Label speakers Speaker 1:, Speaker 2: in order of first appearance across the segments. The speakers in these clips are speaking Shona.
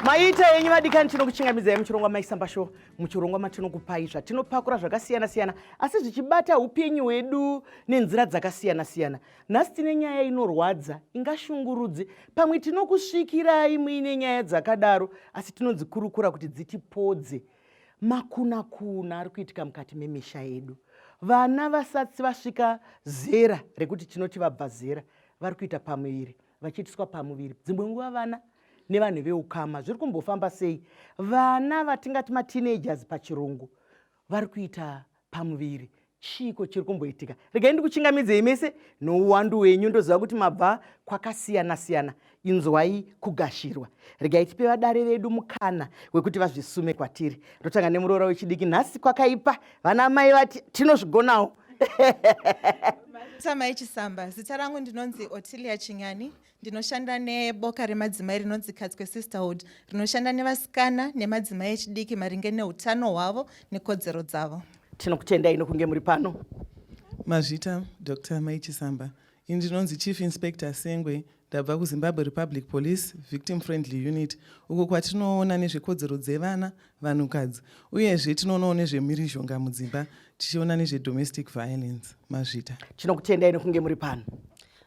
Speaker 1: maita yenyu vadikani tinokuchingamidzai muchirongwa maisamba sho muchirongwa matinokupai zvatinopakura zvakasiyana siyana asi zvichibata upenyu hwedu nenzira dzakasiyana siyana nhasi tine nyaya inorwadza ingashungurudzi pamwe tinokusvikirai muine nyaya dzakadaro asi tinodzikurukura kuti dzitipodze makunakuna ari kuitika mukati memisha yedu vana vasati vasvika zera rekuti tinoti vabva zera vari kuita pamuviri vachiitiswa pamuviri dzimwe nguva vana nevanhu veukama zviri kumbofamba sei vana vatingati mateenagers pachirungu vari kuita pamuviri chiiko chiri kumboitika regai ndikuchingamidzei mese nouwandu wenyu ndoziva kuti mabva kwakasiyana-siyana inzwai kugashirwa regai tipe vadare vedu mukana wekuti vazvisume kwatiri ndotanga nemuroora wechidiki nhasi kwakaipa vana mai vati tinozvigonawo
Speaker 2: samai chisamba zita rangu ndinonzi otilia chinyani Ndinoshanda neboka remadzimai rinonzi Katswe Sisterhood rinoshanda nevasikana nemadzimai echidiki maringe neutano hwavo nekodzero dzavo. Tinokutendai nokunge
Speaker 1: muri pano. Mazvita
Speaker 3: Dr. Mai Chisamba. Ini ndinonzi Chief Inspector Sengwe ndabva kuZimbabwe Republic Police Victim Friendly Unit uko kwatinoona nezvekodzero dzevana vanhukadzi uyezve tinoonawo nezvemhirizhonga mudzimba tichiona nezvedomestic violence. Mazvita. Tinokutendai nokunge
Speaker 1: muri pano.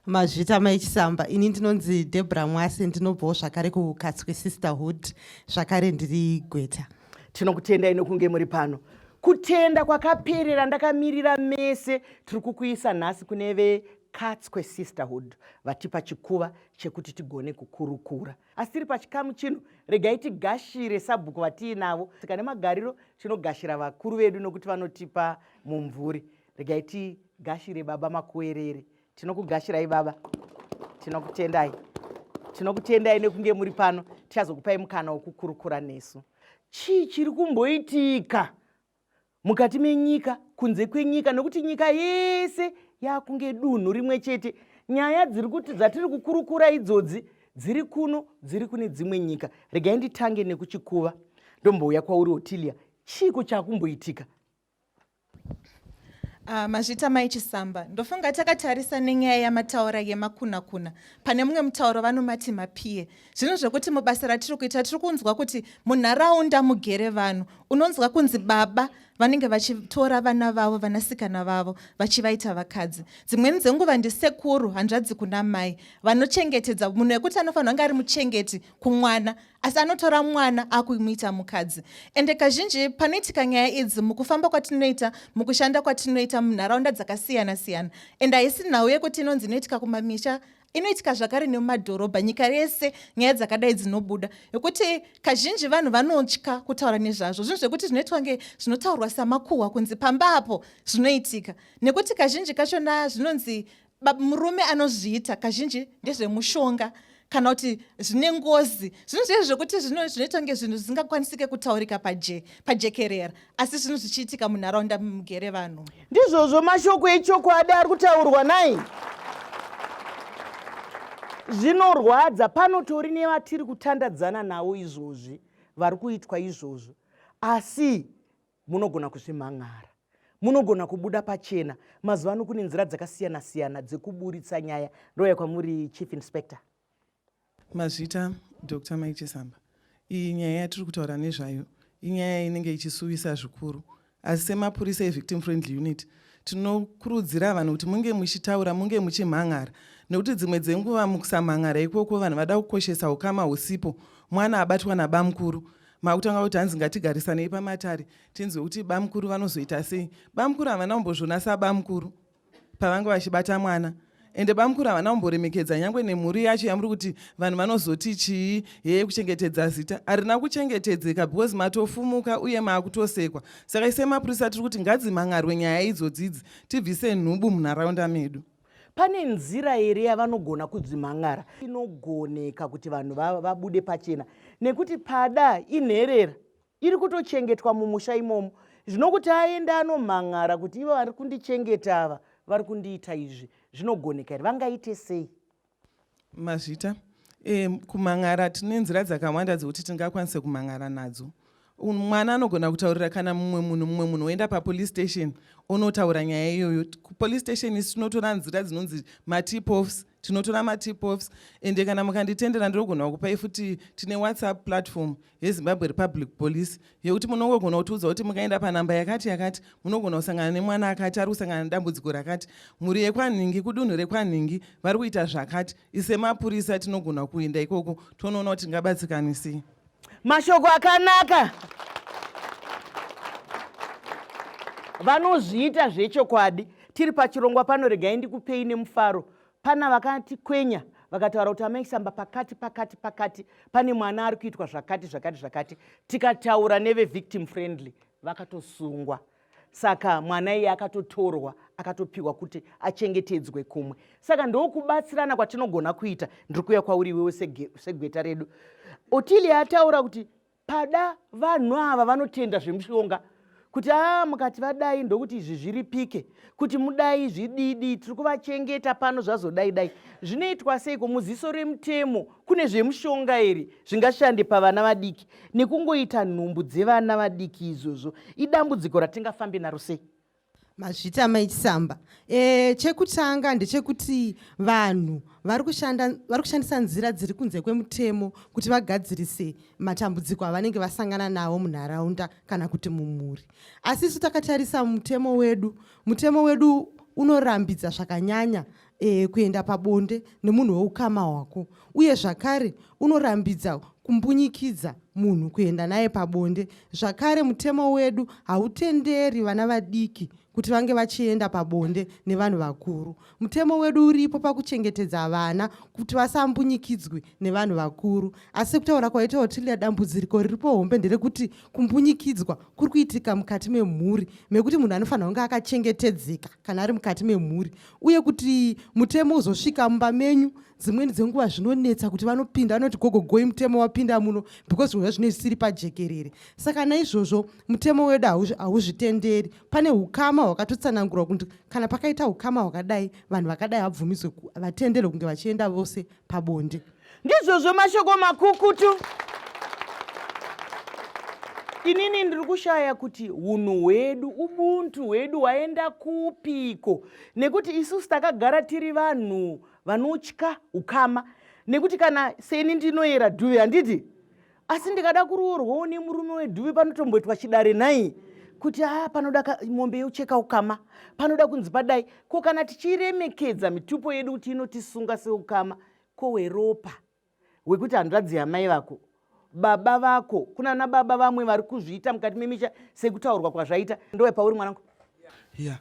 Speaker 1: mazvita
Speaker 4: mai chisamba ini ndinonzi debra mwasi ndinobvawo zvakare kukatswe sisterhood zvakare ndiri gweta tinokutendai
Speaker 1: nokunge muri pano kutenda kwakaperera ndakamirira mese tiri kukuisa nhasi kune vekatswe sisterhood vatipa chikuva chekuti tigone kukurukura asi tiri pachikamu chino regai tigashire sabhuku vatiinavo sika nemagariro tinogashira vakuru vedu nokuti vanotipa mumvuri regai tigashire baba makuerere tinokugashirai baba tinokutendai tinokutendai nekunge muri pano tichazokupai mukana wokukurukura nesu chii chiri kumboitika mukati menyika kunze kwenyika nokuti nyika yese yakunge dunhu rimwe chete nyaya dziri kuti dzatiri kukurukura idzodzi dziri kuno dziri kune dzimwe nyika regai nditange nekuchikuva ndombouya kwauri otilia chiiko chakumboitika
Speaker 2: Uh, mazvita mai chisamba ndofunga takatarisa nenyaya yamataura yemakuna kuna pane mumwe mutauro vanomati mapie zvinhu zvekuti mubasa ratiri kuita tiri kunzwa kuti munharaunda mugere vanhu unonzwa kunzi baba vanenge vachitora vana vavo vanasikana vavo vachivaita vakadzi dzimweni dzenguva ndisekuru hanzvadzi kuna mai vanochengetedza munhu wekuti anofanira kunge ari muchengeti kumwana asi anotora mwana akumuita mukadzi ende kazhinji panoitika nyaya idzi mukufamba kwatinoita mukushanda kwatinoita munharaunda dzakasiyana siyana ende haisi nhau yekuti inonzi inoitika kumamisha inoitika zvakare nemumadhorobha nyika yese nyaya dzakadai dzinobuda yekuti kazhinji vanhu vanotya kutaura nezvazvo zvinhu zvekuti zvinoitwa nge zvinotaurwa samakuhwa kunzi pamba apo zvinoitika nekuti kazhinji kachona zvinonzi Murume anozviita kazhinji ndezvemushonga kana kuti zvine ngozi zvinhu zviye zvekuti zvinoita kunge zvinhu zvisingakwanisike kutaurika pajekerera asi zvinhu zvichiitika munharaunda mugere vanhu ndizvozvo mashoko
Speaker 1: echokwadi ari kutaurwa nai zvinorwadza panotori nevatiri kutandadzana navo izvozvi vari kuitwa izvozvo asi Munogona kuzvimhan'ara. Munogona kubuda pachena. Mazuva ano kune nzira dzakasiyana siyana dzekuburitsa nyaya. Ndouya kwamuri Chief Inspector.
Speaker 3: Mazvita Dr. Mike Chisamba. Iyi nyaya yatiri kutaura nezvayo inyaya inenge ichisuwisa zvikuru. Asi semapurisa evictim friendly unit tinokurudzira vanhu kuti munge muchitaura munge muchimhan'ara nekuti dzimwe dzenguva mukusamhan'ara ikoko vanhu vada kukoshesa ukama husipo mwana abatwa nabamukuru makutanga kuti hanzi ngatigarisanei pamatare tinzwe kuti bamukuru vanozoita sei bamukuru havana kumbozviona sabamukuru pavange vachibata mwana ende bamukuru havana kumboremekedza nyange nemhuri yacho yamuri kuti vanhu vanozoti chii heye kuchengetedza zita harina kuchengetedzeka because matofumuka uye maakutosekwa saka ise mapurisa tiri kuti ngadzimhan'arwe nyaya idzodzidzi tibvise nhubu munharaunda medu Pane nzira
Speaker 1: here yavanogona kudzimhan'ara? Inogoneka kuti vanhu vabude pachena nekuti pada inherera iri kutochengetwa mumusha imomo. Zvino kuti aende anomhan'ara kuti ivo vari kundichengeta ava vari kundiita izvi zvinogoneka here? Vangaite sei?
Speaker 3: Mazvita. E, kumhan'ara tine nzira dzakawanda dzekuti tingakwanise kumhan'ara nadzo. Mwana anogona kutaurira kana mumwe munhu mumwe munhu oenda papolice station onotaura nyaya iyoyo. Police station isi tinotora nzira dzinonzi matip offs, tinotora matip offs ende kana mukanditendera ndinogona kupai futi tine WhatsApp platform yezimbabwe republic police yekuti munongogona kutiudza kuti mukaenda panhamba yakati yakati munogona kusangana nemwana akati ari kusangana nedambudziko rakati mhuri yekwanhingi kudunhu rekwanhingi vari kuita zvakati isemapurisa tinogona kuenda ikoko tonoona kuti tingabatsikanisei mashoko
Speaker 1: akanaka vanozviita zvechokwadi tiri pachirongwa pano regai ndikupei nemufaro Pana vakati kwenya vakataura kuti amai samba pakati pakati pakati pane mwana ari kuitwa zvakati zvakati zvakati tikataura nevevictim friendly vakatosungwa saka mwana iye akatotorwa akatopiwa kuti achengetedzwe kumwe saka ndokubatsirana kwatinogona kuita ndiri kuuya kwauri iwewe segweta redu otilia ataura kuti pada vanhu ava vanotenda zvemushonga kuti aa ah, mukati vadai ndokuti izvi zviripike kuti mudai zvididi tiri kuvachengeta pano zvazodai dai zvinoitwa seiko muziso remutemo kune zvemushonga here zvingashande pavana vadiki nekungoita nhumbu dzevana vadiki izvozvo idambudziko ratingafambe naro sei Mazvita
Speaker 4: mai Chisamba. Eh, chekutanga ndechekuti vanhu vari kushanda vari kushandisa nzira dziri kunze kwemutemo kuti vagadzirise matambudziko avanenge vasangana nawo munharaunda kana kuti mumhuri. Asi isu takatarisa mutemo wedu, mutemo wedu unorambidza zvakanyanya e, kuenda pabonde nemunhu weukama hwako uye zvakare unorambidza kumbunyikidza munhu kuenda naye pabonde zvakare mutemo wedu hautenderi vana vadiki kuti vange vachienda pabonde nevanhu vakuru mutemo wedu uripo pakuchengetedza vana kuti vasambunyikidzwe nevanhu vakuru asi kutaura kwaita otilia dambudziriko riripo hombe nderekuti kumbunyikidzwa kuri kuitika mukati memhuri mekuti munhu anofanira kunge akachengetedzeka kana ari mukati memhuri uye kuti mutemo uzosvika mumba menyu dzimweni dzenguva zvinonetsa kuti vanopinda vanoti gogo goi mutemo wapinda muno because zvinhu zvazvine zvisiri pajekerere saka naizvozvo mutemo wedu hauzvitenderi pane ukama hwakatotsanangurwa kuti kana pakaita ukama hwakadai vanhu vakadai vabvumidzwe vatenderwe kunge vachienda vose pabonde ndizvozvo
Speaker 1: mashoko makukutu inini ndiri kushaya kuti hunhu hwedu ubuntu hwedu hwaenda kupiko nekuti isusu takagara tiri vanhu vanotya ukama nekuti kana seni ndinoyera dhuvi handiti asi ndikada kuroorwawo nemurume wedhuvi panotomboitwa chidare nhai kuti haa panoda mombe yocheka ukama panoda kunzi padai ko kana tichiremekedza mitupo yedu kuti inotisunga seukama ko weropa wekuti hanzvadzi yamai vako baba vako kuna na baba vamwe vari kuzviita mukati memisha sekutaurwa kwazvaita ndowe pauri mwanangu yeah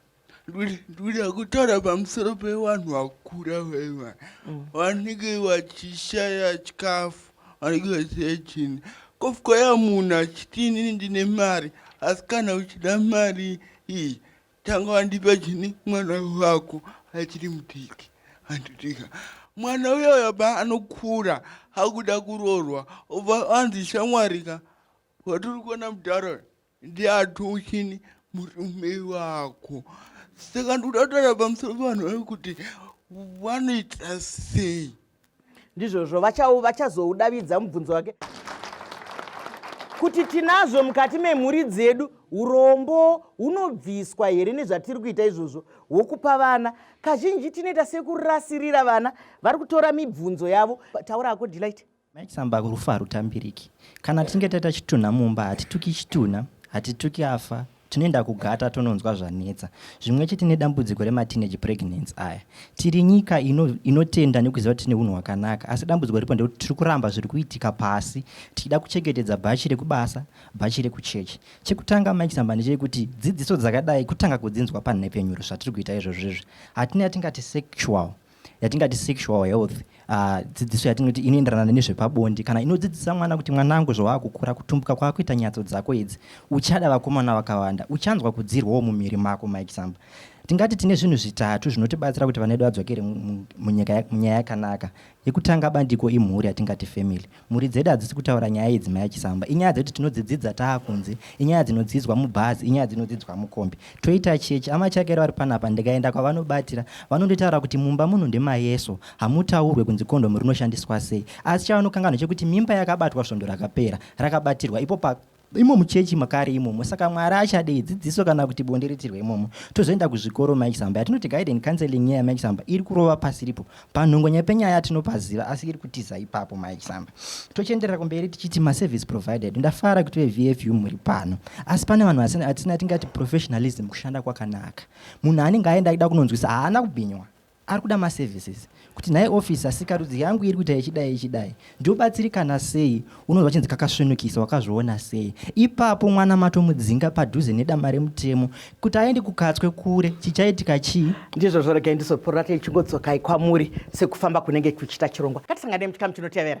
Speaker 5: ndikuda kutaura pamusoro pevanhu vakura vaiva mm. vanenge vachishaya chikafu vanenge vachishaya chini kofukaya munhu achiti inini ndine mari asi kana uchida mari iyi tanga wandipa chini mwana wako achiri mudiki anditika mwana uyoyo ba anokura akuda kuroorwa obva anzi shamwari ka watiri kuona mudhara ndiatuchini murume wako saka ndikuda kutaura pamusoro pevanhu vekuti vanoita sei ndizvozvo
Speaker 1: vachazoudavidza mubvunzo wake kuti tinazvo mukati memhuri dzedu urombo hunobviswa here nezvatiri kuita izvozvo hwokupa vana kazhinji tinoita sekurasirira vana vari kutora mibvunzo yavo taura ako delight maisamba rufu
Speaker 6: harutambiriki kana tichinge taita chitunha mumba hatituki chitunha hatituki afa Tinoenda kugata tononzwa zvanetsa. Zvimwe chete nedambudziko remateenage pregnancy aya. Tiri nyika ino, inotenda nekuziva kuti tine hunhu hwakanaka, asi dambudziko ripo ndekuti tiri kuramba zviri kuitika pasi tichida kuchengetedza bhachi rekubasa, bhachi rekuchechi. Chekutanga Mike Samba ndechekuti dzidziso dzakadai kutanga kudzinzwa panhepfenyuro zvatiri kuita izvozvo izvi. Hatina yatingati sexual yatingati sexual health uh, dzidziso yatinoti inoenderana nezvepabonde kana inodzidzisa mwana kuti mwanangu zvawaakukura kutumbuka kwakuita nyatso dzako idzi uchada vakomana vakawanda uchanzwa kudzirwawo mumiri mako maexample tingati tine zvinhu zvitatu zvinotibatsira kuti vana vedu vadzokere munyaya yakanaka yekutanga bandiko imhuri yatingati family Mhuri dzedu hadzisi kutaura nyaya idzi mai Chisamba. Inyaya dzekuti tinodzidzidza taakunze, inyaya dzinodzidzwa mubhazi, inyaya dzinodzidzwa mukombi. Toita chechi, ama Chakera vari panapa ndikaenda kwavanobatira vanonditaura kuti mumba muno ndemayeso, hamutaurwe kunzi kondomu rinoshandiswa sei. Asi chavanokanganwa chekuti mimba yakabatwa svondo rakapera rakabatirwa ipo pa imo muchechi makari imomo saka mwari achadei dzidziso kana kuti bonde ritirwe imomo tozoenda kuzvikoro mike samba yatinoti guide and counseling nyaya yamike samba iri kurova pasi ripo panhongonya penyaya tinopaziva asi iri kutiza ipapo mike samba tochienderera kumberi tichiti maservice provided ndafara kuti vevfu muri pano asi pane vanhu vasina atisina tingati professionalism kushanda kwakanaka munhu anenge aenda aida kunonzwisa haana kubhinywa Ari kuda ma services kuti nhai officer sikarudzi yangu iri kuita ichidai ichidai ndobatsirikana sei, unonzwa chinzi kakasvinukisa wakazviona sei. Ipapo mwana matomudzinga padhuze nedama remutemo kuti aende kuKatswe kure, chichaitika chii? Ndizvo zvo regai
Speaker 1: ndizopururate ichingodzokai kwamuri sekufamba kunenge kuchiita chirongwa. Ngatisanganei muchikamu chinotevera.